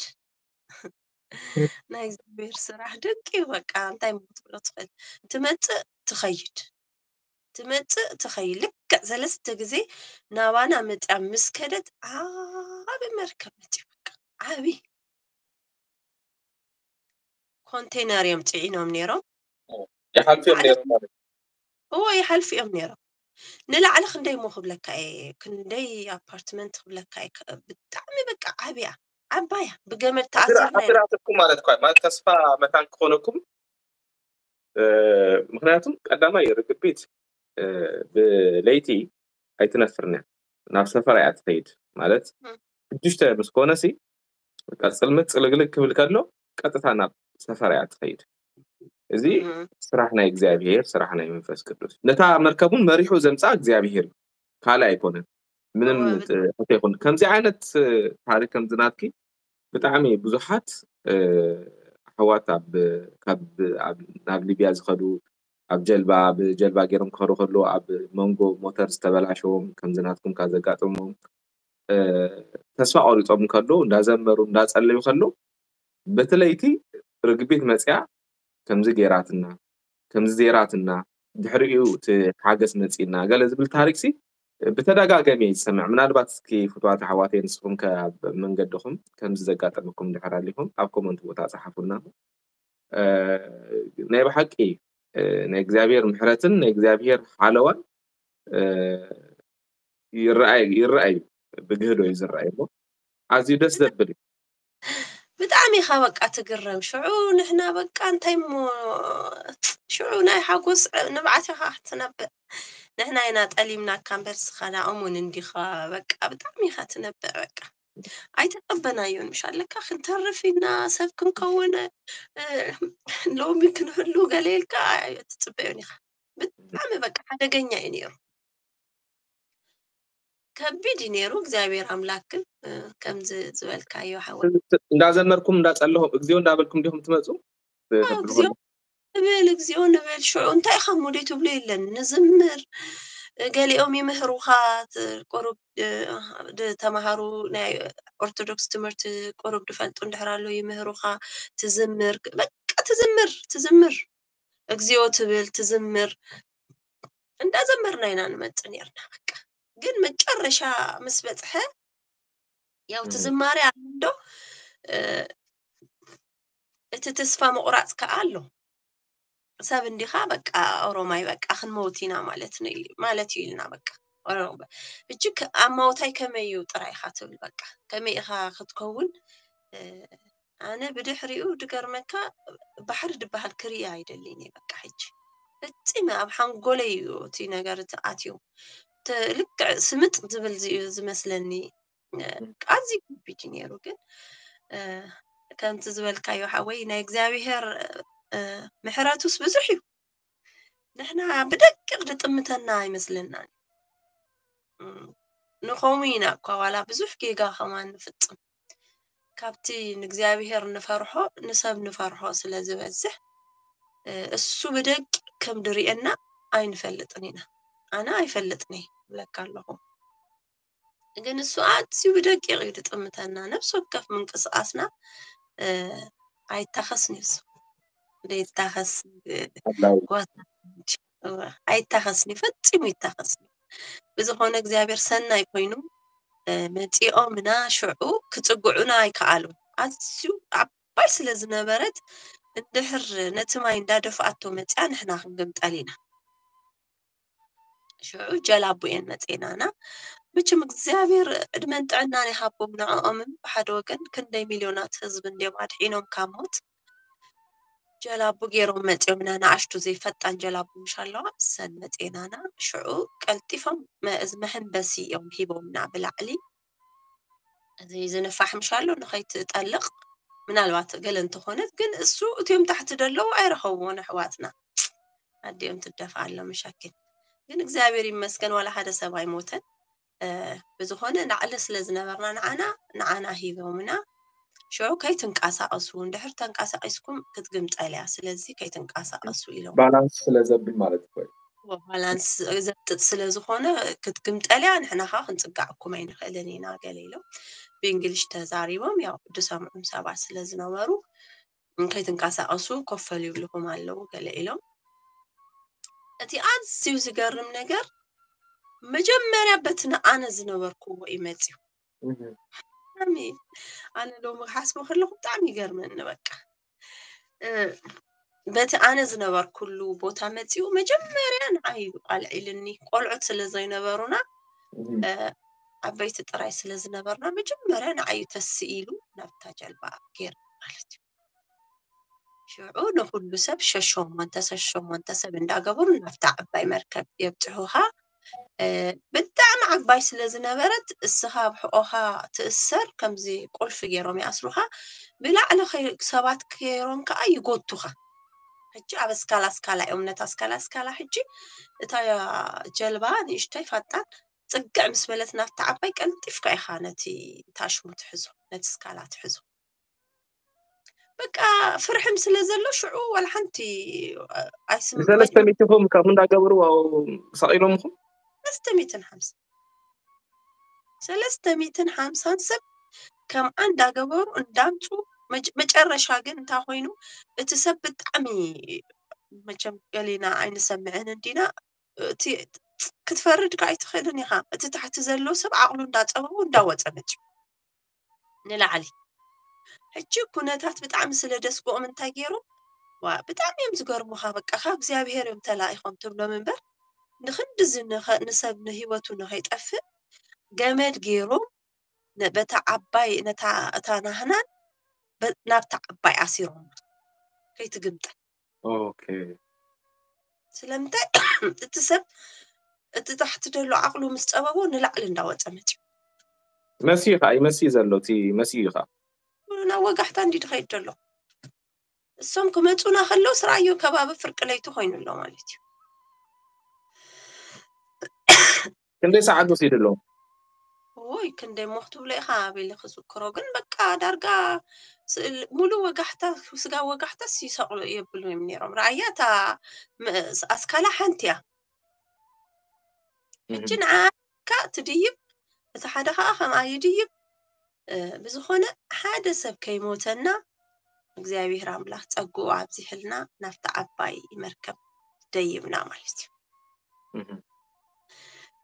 S1: ናይ እግዚኣብሔር ስራሕ ድንቅ እዩ በቃ እንታይ እሞ ክትብሎ ትኽእል ትመፅእ ትኸይድ ትመፅእ ትኸይድ ልክዕ ሰለስተ ግዜ ናባና መፅያ ምስ ከደት ዓቢ መርከብ መፅዩ በቃ ዓቢ ኮንቴነር እዮም ፅዒኖም ነይሮም ይሓልፉ
S2: እዮም ነይሮም ማለት እዎ
S1: ይሓልፉ እዮም ነይሮም ንላዕሊ ክንደይ እሞ ክብለካ እየ ክንደይ ኣፓርትመንት ክብለካ እየ ከ- ብጣዕሚ በቃ ዓብያ ዓባያ ብገመድ ተኣሲሩ ነይሩ። ኣተራትኩም ማለት እኳ
S2: ማለት ተስፋ መታን ክኾነኩም ምክንያቱ ቀዳማይ ርግቢት ብለይቲ ኣይትነፍርን እያ ናብ ሰፈራ እያ ትኸይድ ማለት ሽዱሽተ ምስ ኮነ ሲ በቃ ፅልምት ፅልግልግ ክብል ከሎ ቀጥታ ናብ ሰፈራ እያ ትኸይድ እዚ ስራሕ ናይ እግዚኣብሄር ስራሕ ናይ መንፈስ ቅዱስ ነታ መርከቡን መሪሑ ዘምፃ እግዚኣብሄር ካልእ ኣይኮነን ምንም ሕቶ ይኹን ከምዚ ዓይነት ታሪክ ከምዚ ናትኪ ብጣዕሚ ብዙሓት ኣሕዋት ናብ ሊብያ ዝኸዱ ኣብ ጀልባ ብጀልባ ገይሮም ክኸዱ ከሎ ኣብ መንጎ ሞተር ዝተበላሸዎም ከምዚ ናትኩም ካብ ዘጋጥሞም ተስፋ ቆሪፆም ከሎ እንዳዘመሩ እንዳፀለዩ ከሎ በቲ ለይቲ ርግቢት መፅያ ከምዚ ገይራትና ከምዚ ዘይራትና ድሕሪኡ እቲ ሓገስ መፂና ገለ ዝብል ታሪክሲ ብተዳጋገሚ እየ ዝሰምዕ ምናልባት እስኪ ፍትዋት ኣሕዋተይ ንስኩም ከ ኣብ መንገድኩም ከምዚ ዘጋጠመኩም ድሕር ኣሊኩም ኣብ ኮመንት ቦታ ጸሓፉልና ናይ ብሓቂ ናይ እግዚኣብሔር ምሕረትን ናይ እግዚኣብሔር ሓለዋን ይረኣይ ይረኣይ ብግህዶ እዩ ዝረኣይ እሞ ኣዝዩ ደስ ዘብል እዩ
S1: ብጣዕሚ ኢኻ በቃ ትግረም ሽዑ ንሕና በቃ እንታይ እሞ ሽዑ ናይ ሓጎስ ንብዓት ኢኻ ክትነብዕ ንሕና ኢና ጠሊምናካ እምበር እስኻ ንኦም እውን እንዲኻ በቃ ብጣዕሚ ኢኻ ትነብዕ በቃ ኣይተቀበናዮን ምሽ ኣለካ ክንተርፍ ኢና ሰብ ክንከውን ሎሚ ክንህሉ ገለ ኢልካ ትፅበዮን ኢኻ ብጣዕሚ በቃ ሓደገኛ እዩ ነይሩ ከቢድ እዩ ነይሩ እግዚኣብሔር ኣምላክ ግን ከምዚ ዝበልካዮ ሓወ እንዳዘመርኩም
S2: እንዳጸለኹም እግዚኦ እንዳበልኩም ዲኹም ትመፁ እግዚኦ ንብል
S1: እግዚኦ ንብል ሽዑ እንታይ ኢኻ እሞ ደይ ትብሉ የለን ንዝምር ገሊኦም ይምህሩኻ ቁሩብ ተምሃሩ ናይ ኦርቶዶክስ ትምህርቲ ቁሩብ ድፈልጡ እንድሕር ኣሎ ይምህሩኻ ትዝምር በቃ ትዝምር ትዝምር እግዚኦ ትብል ትዝምር እንዳዘመርና ኢና ንመጽእ ነርና በቃ ግን መጨረሻ ምስ በጽሐ ያው እቲ ዝማሬ ኣሎዶ እቲ ተስፋ ምቑራፅ ከዓ ኣሎ ሰብ እንዲኻ በቃ ኦሮማይ በቃ ክንመውት ኢና ማለት ማለት እዩ ኢልና በቃ እጅ ኣብ ማውታይ ከመይ እዩ ጥራይ ኢኻ ትብል በቃ ከመይ ኢኻ ክትከውን ኣነ ብድሕሪኡ ድገርመካ ባሕሪ ድበሃል ክርኢ ኣይደልን እየ በቃ ሕጂ ፈፂመ ኣብ ሓንጎለይ እዩ እቲ ነገር እቲ ኣትዩ እቲ ልክዕ ስምጥ ዝብል እዚ እዩ ዝመስለኒ እ፣ ኣዝዩ ከቢድ እዩ ነይሩ ግን እ፣ ከምቲ ዝበልካዮ ሓወይ ናይ እግዚኣብሄር እ፣ ምሕረቱስ ብዙሕ እዩ ንሕና ብደቂቕ ድጥምተና ኣይመስለናን እዩ። እ፣ ንኸምኡ ኢና እኳ ዋላ ብዙሕ ጌጋ ከማን ንፍፅም ካብቲ ንእግዚኣብሔር ንፈርሖ ንሰብ ንፈርሖ ስለ ዝበዝሕ እሱ ብደቂ ከም ድርእየና ኣይንፈልጥን ኢና ኣነ ኣይፈልጥን እየ ብለካ ኣለኹ ግን እሱ ኣዝዩ ብደቂቕ እዩ ድጥምተና ነብሲ ወከፍ ምንቅስቓስና ኣይታኸስን እዩ እሱ ዘይታኸስ ጓሳ እወ ኣይታኸስን እዩ ፈጺሙ ይታኸስን እዩ ብዝኾነ እግዚኣብሔር ሰናይ ኮይኑ እ፣ መጺኦምና ሽዑ ክጽግዑና ኣይከኣሉን ኣዝዩ ዓባይ ስለ ዝነበረት እንድሕር ነቲ ማይ እንዳደፍኣቶ መጺኣ ንሕና ክንግምጠል ኢና ሽዑ ጀላቡ እየን መጺኤናና መቸም እግዚኣብሔር ዕድመን ጥዕናን ይሃቦም ንዕኦምን ብሓደ ወገን ክንደይ ሚልዮናት ህዝቢ እንድዮም ኣድሒኖም ካብ ሞት ጀላቡ ጌሮም መጺኦም ኢና ንኣሽቱ ዘይፈጣን ጀላቡ ምሽ ኣለዋ እሰን መጺኤናና ሽዑ ቀልጢፎም እዚ መሐንበሲ እዮም ሂቦምና ብላዕሊ እዚ ዝንፋሕ ምሽ ኣሎ ንኸይትጠልቕ ምናልባት ገለ እንተኾነት ግን እሱ እትዮም ታሕቲ ደለዉ ኣይረኸብዎን ኣሕዋትና ኣዲኦም ትደፋ ኣሎ መሻኪን ግን እግዚኣብሔር ይመስገን ዋላ ሓደ ሰብ ኣይሞተን ብዝኾነ ናዕሊ ስለ ዝነበርና ንዓና ንዓና ሂቦምና ሽዑ ከይትንቀሳቐሱ እንድሕር ተንቀሳቒስኩም ክትግምጠል እያ ስለዚ ከይትንቀሳቐሱ ኢሎም ባላንስ ስለ ዘብል
S2: ማለት እዩ ባላንስ
S1: ዘጥጥ ስለ ዝኾነ ክትግምጠል እያ ንሕና ከዓ ክንፅጋዕኩም ኣይንኽእልን ኢና ገለ ኢሎም ብእንግሊሽ ተዛሪቦም ያው ድሰምዑም ሰባት ስለ ዝነበሩ ከይትንቀሳቐሱ ኮፈል ይብልኹም ኣለዉ ገለ ኢሎም እቲ ኣዝዩ ዝገርም ነገር መጀመርያ በቲ ንኣነ ዝነበርክዎ እዩ መፅዩ ብጣዕሚ ኣነ ሎሚ ክሓስቦ ከለኹ ብጣዕሚ ይገርመኒ በቃ በቲ ኣነ ዝነበርኩሉ ቦታ መፅኡ መጀመርያ ንዓይ ኣልዒልኒ ቆልዑት ስለ ዘይነበሩና ዓበይቲ ጥራይ ስለ ዝነበርና መጀመርያ ንዓዩ ተስኢሉ ናብታ ጀልባ ገይርና ማለት እዩ ሽዑ ንኩሉ ሰብ ሸሸሞንተ ሸሸሞንተ ሰብ እንዳገበሩ ናብታ ዓባይ መርከብ የብፅሑኻ ብጣዕሚ ዓባይ ስለ ዝነበረት እስኻ ኣብ ሕቆኻ ትእሰር ከምዚ ቁልፊ ገይሮም ይኣስሩኻ ብላዕሊ ሰባት ገይሮም ከዓ ይጎቱኻ ሕጂ ኣብ ኣስካላ ኣስካላ እዮም ነታ ኣስካላ ኣስካላ ሕጂ እታ ጀልባ ንእሽተይ ፋጣን ፅግዕ ምስ በለት ናብታ ዓባይ ቀልጢፍካ ኢኻ ነቲ ታሽሙ ትሕዞ ነቲ ስካላ ትሕዞ በቃ ፍርሕም ስለ ዘሎ ሽዑ ዋላ ሓንቲ ኣይስም ንሰለስተ ሚትኹም
S2: ከምኡ እንዳገበሩ ሰቂሎምኹም ሰለስተ ሚትን ሓምሳ
S1: ሰለስተ ሚትን ሓምሳን ሰብ ከም ዓንዳ ገበሩ እንዳምፁ መጭ- መጨረሻ ግን እንታይ ኮይኑ እቲ ሰብ ብጣዕሚ መቸም ገሌና ኣይንሰምዕን እንዲና እቲ ክትፈርድ ከዓ ኣይትኽእልን ኢኻ እቲ ታሕቲ ዘሎ ሰብ ዓቕሉ እንዳፀበቡ እንዳወፀ መፅኡ ንላዕሊ ሕጂ ኩነታት ብጣዕሚ ስለ ደስግኦም እንታይ ገይሮም ዋ ብጣዕሚ እዮም ዝገርሙኻ በቃ ካብ እግዚኣብሄር እዮም ተላኢኾም ትብሎም እምበር ንክንድዚ ንሰብ ንህይወቱ ንኸይጠፍእ ገመድ ገይሮም በታ ዓባይ ነታ እታ ናህናን ናብታ ዓባይ ኣሲሮም ከይትግምጠል
S2: ኦኬ
S1: ስለምንታይ እቲ ሰብ እቲ ታሕቲ ዘሎ ዓቕሉ ምስ ጸበቦ ንላዕሊ እንዳወጸ መጺኡ መሲ
S2: እዩ ከዓ ይመሲ ዘሎ እቲ መሲ እዩ ከዓ ኩሉና
S1: ወጋሕታ እንዲ ድኸይድ ዘሎ እሶም ክመጹና ከለው ስራዮ ከባቢ ፍርቂ ለይቲ ኮይኑ ኣሎ ማለት እዩ
S2: ክንደይ ሰዓት ወሲዱ ኣሎ ወይ
S1: ክንደይ ሞኽ ትብሎ ኢኻ ኣቤለ ክዝክሮ ግን በቃ ዳርጋ ስእል- ሙሉ ወጋሕታ ስጋ ወጋሕታስ ይሰቅሉ የብሉ እዮም ነይሮም ረኣያ እታ መ- ኣስካላ ሓንቲ እያ ሕጂ ንዓካ ትድይብ እቲ ሓደ ከዓ ከምኣ ይድይብ ብዝኾነ ሓደ ሰብ ከይሞተና እግዚኣብሔር ኣምላኽ ጸግኡ ኣብዚሕልና ናብቲ ዓባይ መርከብ ደይብና ማለት እዩ እህም፣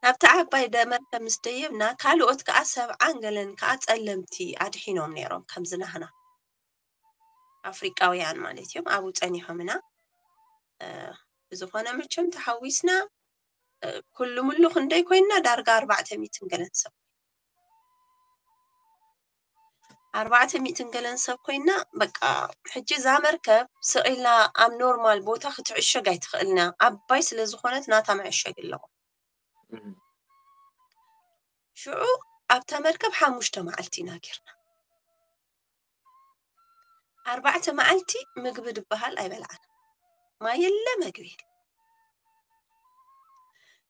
S1: ናብቲ ዓባይ ደ- መርከብ ምስ ደየብና ካልኦት ከዓ ሰብዓን ገለን ከዓ ጸለምቲ ኣድሒኖም ነይሮም ከምዚ ናህና ኣፍሪቃውያን ማለት እዮም ኣብኡ ጸኒሖምና እ፣ ብዝኾነ መቸም ተሓዊስና እ፣ ኩሉ ምሉ ክንደይ ኮይንና ዳርጋ ኣርባዕተ ሚትን ገለን ሰብ ኣርባዕተ ሚእትን ገለን ሰብ ኮይና በቃ ሕጂ እዛ መርከብ ስዒላ ኣብ ኖርማል ቦታ ክትዕሸግ ኣይትኽእልና ዓባይ ስለ ዝኾነት ናታ መዕሸግ ኣለዎ ሽዑ ኣብታ መርከብ ሓሙሽተ መዓልቲ ኢና ጌርና ኣርባዕተ መዓልቲ ምግቢ ድበሃል ኣይበልዓን ማይ የለ መግቢ የለ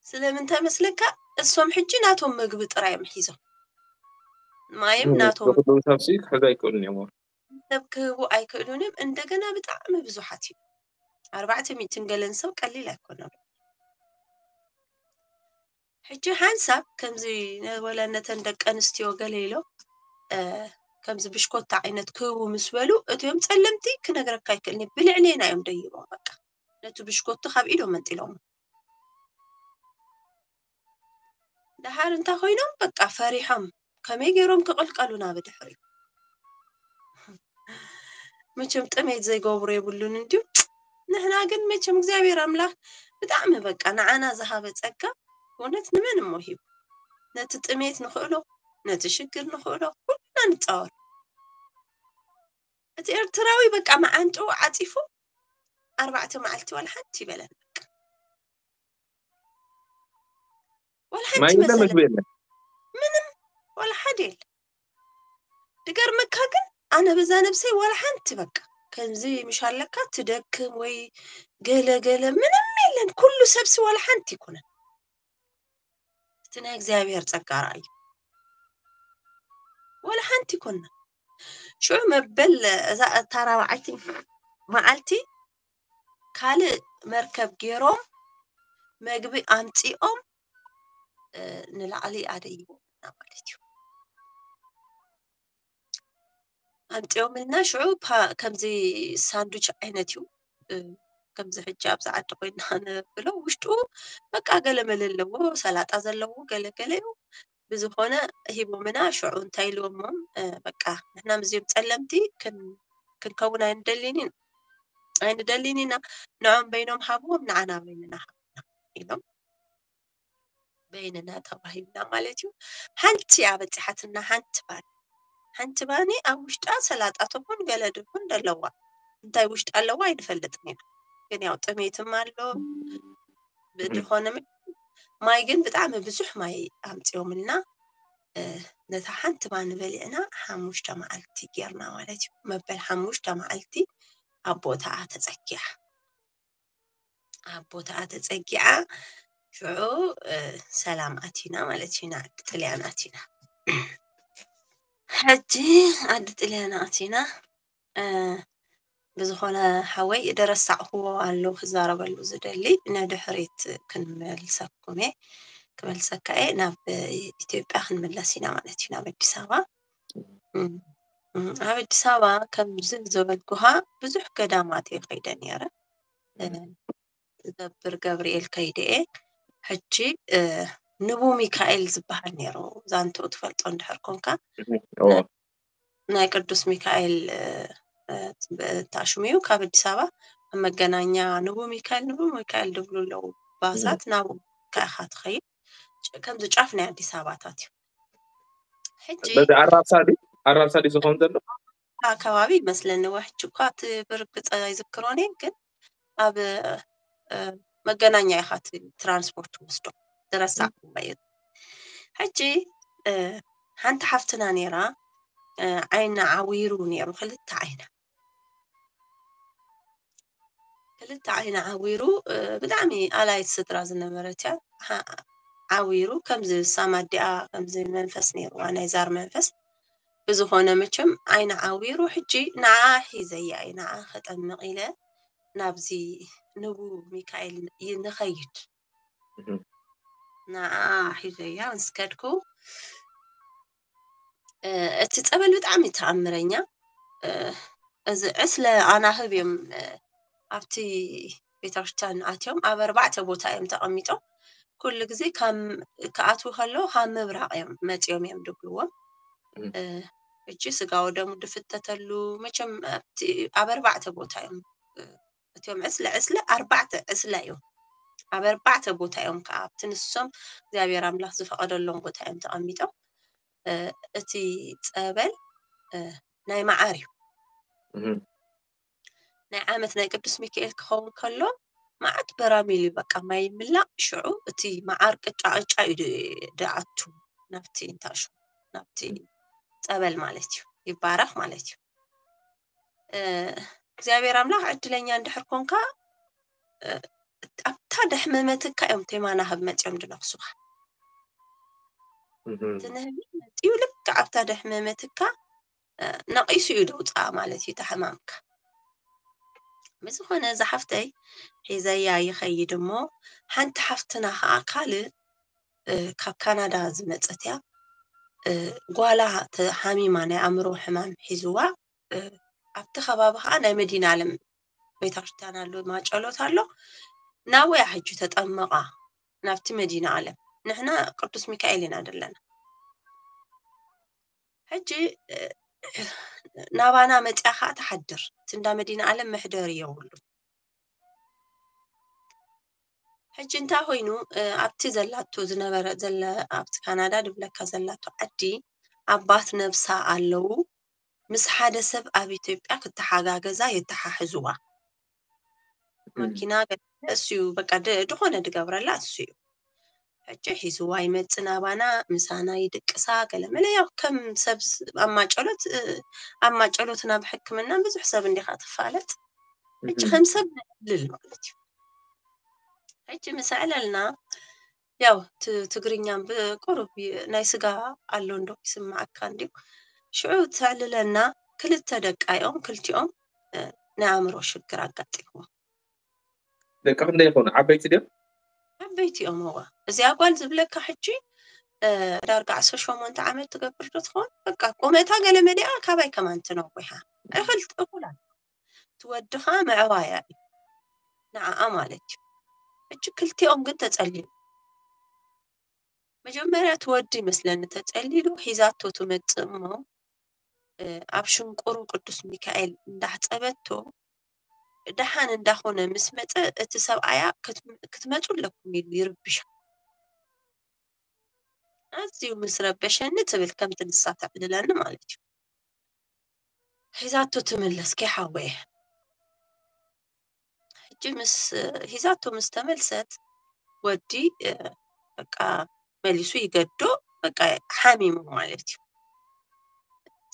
S1: ስለምንታይ መስለካ እሶም ሕጂ ናቶም ምግቢ ጥራይ እዮም ሒዞም ማይም ናቶም ብክልኡ ሰብ ሲ ክሕዙ
S2: ኣይክእሉን እዮም ወር ሰብ ክህቡ
S1: ኣይክእሉን እዮም እንደገና ብጣዕሚ ብዙሓት እዩ ኣርባዕተ ሚእትን ገለን ሰብ ቀሊል ኣይኮነም ሕጂ ሓንሳብ ከምዚ ወላ ነተን ደቂ ኣንስትዮ ገለ ኢሎም ከምዚ ብሽኮታ ዓይነት ክህቡ ምስ በሉ እትዮም ጸለምቲ ክነግረካ ይክእልኒ ብልዕሌና እዮም ደይቦም በቃ ነቲ ብሽኮቱ ካብ ኢዶም መንጢሎሞ ደሓር እንታይ ኮይኖም በቃ ፈሪሖም ከመይ ገይሮም ክቕልቀሉና ብድሕሪኡ መቸም ጥሜት ዘይገብሩ የብሉን እንድዩ ንሕና ግን መቸም እግዚኣብሔር ኣምላኽ ብጣዕሚ በቃ ንዓና ዝሃበ ጸጋ እውነት ንመን እሞ ሂቡ ነቲ ጥሜት ንኽእሎ ነቲ ሽግር ንኽእሎ ኩልና ንፃወር እቲ ኤርትራዊ በቃ መዓንጥኡ ዓፂፉ ኣርባዕተ መዓልቲ ዋላ ሓንቲ ይበለን በቃ ወላ ሓንቲ ማይ የለ መሰለ ምግቢ
S2: የለ ምንም
S1: ወላ ሓደ የለ ድገርመካ ግን ኣነ በዛ ነብሰይ ወላ ሓንቲ በቃ ከምዚ ምሽ ኣለካ ትደክም ወይ ገለ ገለ ምንም የለን ኩሉ ሰብሲ ወላ ሓንቲ ይኩነን እቲ ናይ እግዚኣብሔር ጸጋ ርኣዩ ወላ ሓንቲ ይኮና ሽዑ መበል እዛ እታ ራብዓይቲ መዓልቲ ካልእ መርከብ ገይሮም መግቢ ኣምፂኦም ንላዕሊ ኣደይቦምና ማለት እዩ ኣምፂኦምልና ሽዑ ከምዚ ሳንዱች ዓይነት እዩ ከምዚ ሕጂ ኣብዚ ዓዲ ኮይና ንብሎ ውሽጡ በቃ ገለ መለ ኣለዎ ሰላጣ ዘለዎ ገለገለ እዩ ብዝኮነ ሂቦምና ሽዑ እንታይ ኢልዎሞም በቃ ንሕና ምስዚኦም ጸለምቲ ክንከውን ኣይንደሊን ኣይንደሊን ኢና ንዖም በይኖም ሃብዎም ንዓና በይንና ሃብና ኢሎም በይንና ተዋሂብና ማለት እዩ ሓንቲ እያ በጺሓትና ሓንቲ ባኒ ሓንቲ ባኒ ኣብ ውሽጣ ሰላጣ ትኹን ገለ ድኹን ደለዋ እንታይ ውሽጣ ኣለዋ ኣይንፈልጥን ኢና ግን ያው ጥሜትም ኣሎ ብድኾነ ማይ ግን ብጣዕሚ ብዙሕ ማይ ኣምፂኦምልና ነታ ሓንቲ ባኒ በሊዕና ሓሙሽተ መዓልቲ ጌርና ማለት እዩ መበል ሓሙሽተ መዓልቲ ኣብ ቦታኣ ተፀጊዓ ኣብ ቦታኣ ተፀጊዓ ሽዑ ሰላም ኣቲና ማለት እዩ ናብ ጥልያን ኣቲና ሕጂ ዓዲ ጥልያን ኣቲና ብዝኾነ ሓወይ ደረሳዕክዎ ኣሎ ክዛረበሉ ዝደሊ ንድሕሪት ክንመልሰኩም እየ ክመልሰካ እየ ናብ ኢትዮጵያ ክንምለስ ኢና ማለት እዩ ናብ ኣዲስ ኣበባ ኣብ ኣዲስ ኣበባ ከምዚ ዝበልኩኻ ብዙሕ ገዳማት እየ ከይደ ነይረ ገብር ገብርኤል ከይደ እየ ሕጂ ንቡ ሚካኤል ዝበሃል ነይሩ ዛንትኡ ትፈልጦ እንድሕር ኮንካ ናይ ቅዱስ ሚካኤል ተኣሽሙ እዩ ካብ ኣዲስ ኣበባ ኣብ መገናኛ ንቡ ሚካኤል ንቡ ሚካኤል ድብሉ ኣለዉ ባሳት ናብ ካኢኻ ትኸይድ ከምዚ ጫፍ ናይ ኣዲስ ኣበባታት እዩ ሕጂ በዚ ኣራብሳ
S2: ድዩ ኣራብሳ ድዩ ዝኸውን ዘሎ ከባቢ
S1: ይመስለኒ ወሕጂ እኳ እቲ ብርግፀ ኣይዝክሮን እየ ግን ኣብ መገናኛ ኢኻ እቲ ትራንስፖርት ትወስዶ ዝረሳዕኩዎ እዩ ሕጂ ሓንቲ ሓፍትና ነይራ ዓይና ዓዊሩ ነይሩ ክልተ ዓይና ክልተ ዓይና ዓዊሩ ብጣዕሚ ኣላይት ስድራ ዝነበረት እያ ዓዊሩ ከምዚ ሳማዲኣ ከምዚ መንፈስ ነይርዋ ናይ ዛር መንፈስ ብዝኾነ መቸም ዓይና ዓዊሩ ሕጂ ንዓኣ ሒዘያ እየ ንዓኣ ከጠምቕ ኢለ ናብዚ ንቡ ሚካኤል ይ- ንኸይድ እህ፣ ንዓኣ ሒዘያ ምስ ከድኩ እ፣ እቲ ጸበል ብጣዕሚ ተኣምረኛ እ፣ እዚ ዕስለ ኣናህብ እዮም እ፣ ኣብቲ ቤተክርስትያን ኣትዮም ኣብ ኣርባዕተ ቦታ እዮም ተቐሚጦም ኩሉ ግዜ ካብ ክኣትዉ ከለዉ ካብ ምብራቕ እዮም መፂኦም እዮም ድብልዎም እቺ ስጋ ወደሙ ድፍተተሉ መቸም ኣብ ኣርባዕተ ቦታ እዮም እትዮም ዕስለ ዕስለ ኣርባዕተ ዕስለ እዮም ኣብ ኣርባዕተ ቦታ እዮም ከዓ ኣብቲ ንሶም እግዚኣብሔር ኣምላኽ ዝፈቐደሎም ቦታ እዮም ተቐሚጦም እቲ ፀበል ናይ መዓር እዩ ናይ ዓመት ናይ ቅዱስ ሚካኤል ክኸውን ከሎ መዓት በራሚል እዩ በቃ ማይ ይምላእ ሽዑ እቲ መዓር ቅጫ ቅጫ እዩ ድኣቱ ናብቲ እንታሹ ናብቲ ፀበል ማለት እዩ ይባረኽ ማለት እዩ እግዚኣብሔር ኣምላኽ ዕድለኛ እንድሕር ኮንካ ኣብታ ደሕመመትካ እዮም ቴማና ህብ መፅኦም ድነኽሱኻ ትንህቢ መፅኡ ልክዕ ኣብታ ደሕመመትካ ነቒሱ እዩ ደውፅኣ ማለት እዩ ተሕማምካ ብዝኾነ ዝሓፍተይ ሒዘያ ይኸይድ እሞ ሓንቲ ሓፍትና ከዓ ካልእ ካብ ካናዳ ዝመፀት እያ ጓላ ተሓሚማ ናይ ኣእምሮ ሕማም ሒዝዋ ኣብቲ ከባቢ ከዓ ናይ መዲና ኣለም ቤተክርስትያን ኣሎ ማጨሎት ኣሎ ናበያ ሕጂ ተጠመቓ ናብቲ መዲና ኣለም ንሕና ቅዱስ ሚካኤል ኢና ዘለና ሕጂ ናባና መፅያ ከዓ ትሓድር እቲ እንዳ መዲና ዓለም መሕደሪ የብሉ ሕጂ እንታይ ኮይኑ ኣብቲ ዘላቶ ዝነበረ ዘለ ኣብቲ ካናዳ ድብለካ ዘላቶ ዓዲ ኣባት ነብሳ ኣለዉ ምስ ሓደ ሰብ ኣብ ኢትዮጵያ ክተሓጋገዛ የተሓሕዝዋ ማኪና ገዲፈ እሱዩ በቃ ድኾነ ድገብረላ እሱዩ ሕጂ ሒዝዋ ይመጽእ ናባና ምሳና ይድቅሳ ገለመለ ያው ከም ሰብ ኣብ ማጨሎት ኣብ ማጨሎትን ኣብ ሕክምናን ብዙሕ ሰብ እንዲኻ ትፋለጥ ሕጂ ከም ሰብ ንዕልል ማለት እዩ ሕጂ ምስ ዕለልና ያው ትግርኛም ብቁሩብ ናይ ስጋ ኣሎ እንዶ ይስምዓካ እንድዩ ሽዑ ተዕልለና ክልተ ደቃ እዮም ክልቲኦም ናይ ኣእምሮ ሽግር ኣጋጢምዎም
S2: ደቂ ክንደይ ይኾኑ ዓበይቲ ድዮም ዓበይቲ
S1: እዮም እዋ እዚኣ ጓል ዝብለካ ሕጂ ዳርጋ ዓሰርተ ሸሞንተ ዓመት ትገብር ዶ ትኸውን በቃ ቁመታ ገለ መሊኣ ካባይ ከማን ትነዊሓ እኽልቲ እኹላ እቲ ወዲ ከኣ መዕባያ እዩ ንዓኣ ማለት እዩ ሕጂ ክልቲኦም ግን ተጸሊሉ መጀመርያ እቲ ወዲ ይመስለኒ ተጸሊሉ ሒዛቶ ትመጽእ እሞ ኣብ ሽንቁሩ ቅዱስ ሚካኤል እንዳሕጸበቶ ደሓን እንዳኾነ ምስ መጸ እቲ ሰብኣያ ክትመጹ ኣለኩም ኢሉ ይርብሻ ኣዝዩ ምስ ረበሸኒ ትብል ከምቲ ንሳ ተዕልለኒ ማለት እዩ ሒዛቶ ትምለስ ከይሓወየ ሕጂ ምስ ሒዛቶ ምስ ተመልሰት ወዲ በቃ መሊሱ ይገዶ በቃ ሓሚሙ ማለት እዩ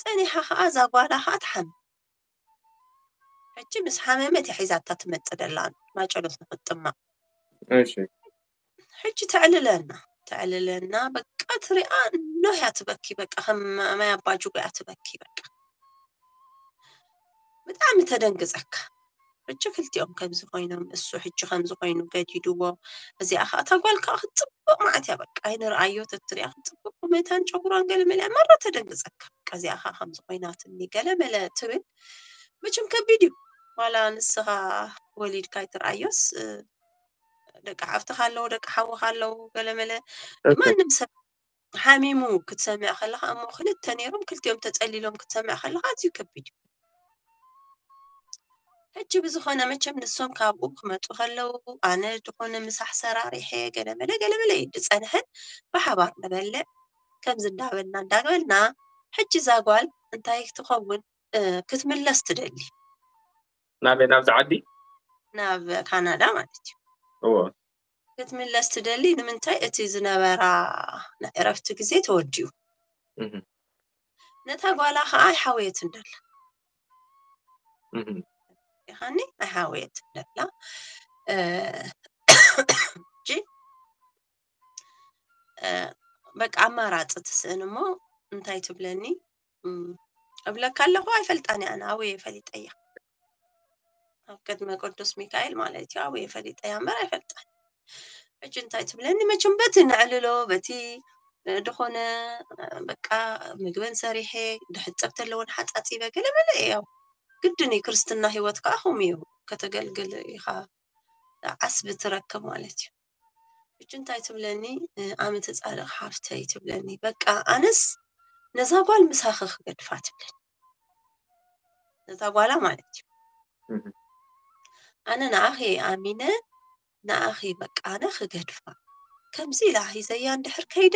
S1: ጸኒሓ ከዓ እዛ ጓላ ከዓ ትሓሚ ሕጂ ምስ ሓመመት እያ ሒዛታ ትመፅእ ደላ ማጨሎት ንክትጥመቕ እሺ ሕጂ ተዕልለና ተዕልለና በቃ ትሪኣ ኖህ እያ ትበኪ በቃ ከም ማይ ኣባ ጅጎ እያ ትበኪ በቃ ብጣዕሚ ተደንግፀካ ሕጂ ክልቲኦም ከምዚ ኮይኖም እሱ ሕጂ ከምዚ ኮይኑ ገዲድዎ እዚኣ ከዓ እታ ጓል ከዓ ክትፅቡቅ ማዓት እያ በቃ ኣይንርኣዮ ተትሪኣ ክትፅቡቅ ቁመታን ጨጉሯን ገለ መለ መራ ተደንግፀካ በቃ እዚኣ ከዓ ከምዚ ኮይናትኒ ገለ መለ ትብል መቸም ከቢድ እዩ ዋላ ንስኻ ወሊድካ ኣይትርኣዮስ ደቂ ሓፍትኻ ኣለዉ ደቂ ሓውኻ ኣለዉ ገለመለ ማንም ሰብ ሓሚሙ ክትሰምዕ ከለካ እሞ ክልተ ነይሮም ክልቲኦም ተፀሊሎም ክትሰምዕ ከለካ ኣዝዩ ከቢድ እዩ ሕጂ ብዝኾነ መቸም ንሶም ካብኡ ክመፁ ከለዉ ኣነ ዝኾነ ምሳሕ ሰራሪሐ ገለመለ ገለመለ እዩ ዝፀንሐን ብሓባር ንበልዕ ከምዚ እንዳበልና እንዳበልና ሕጂ እዛ ጓል እንታይ ትኸውን ክትምለስ ትደሊ ናበይ
S2: ናብዚ ዓዲ ናብ
S1: ካናዳ ማለት እዩ እዎ
S2: ክትምለስ
S1: ትደሊ ንምንታይ እቲ ዝነበራ ናይ ዕረፍቲ ግዜ ተወዲኡ እህም፣ ነታ ጓላ ከዓ ኣይሓወየትን ደላ እህም፣ ይኻኒ ኣይሓወየትን ደላ እ፣ ሕጂ በቃ ኣማራፂ ትስእን እሞ እንታይ ትብለኒ እብለካ ኣለኹ ኣይፈልጣን እያ ኣበየ ፈሊጠያ ኣብ ቅድመ ቅዱስ ሚካኤል ማለት እዩ ኣበየ ፈሊጠያ እምበር ኣይፈልጣን ሕጂ እንታይ ትብለኒ መቸም በቲ ነዕልሎ በቲ ዝኾነ በቃ ምግበን ሰሪሐ ድሕፀብ ተለወን ሓፃፂበ ገለመለ እያው ግድን እዩ ክርስትና ሂወት ከዓ ከምኡ እዩ ከተገልግል ኢኻ ዓስቢ ትረክብ ማለት እዩ ሕጂ እንታይ ትብለኒ ኣነ ተጻርቕ ሓፍተይ ትብለኒ በቃ ኣነስ ነዛ ጓል ምሳኺ ክገድፋ ትብለኒ ነዛ ጓላ ማለት እዩ ኣነ ንኣኺ ኣሚነ ንኣኺ በቃ ኣነ ክገድፋ ከምዚ ኢላ ሂዘያ እንድሕር ከይደ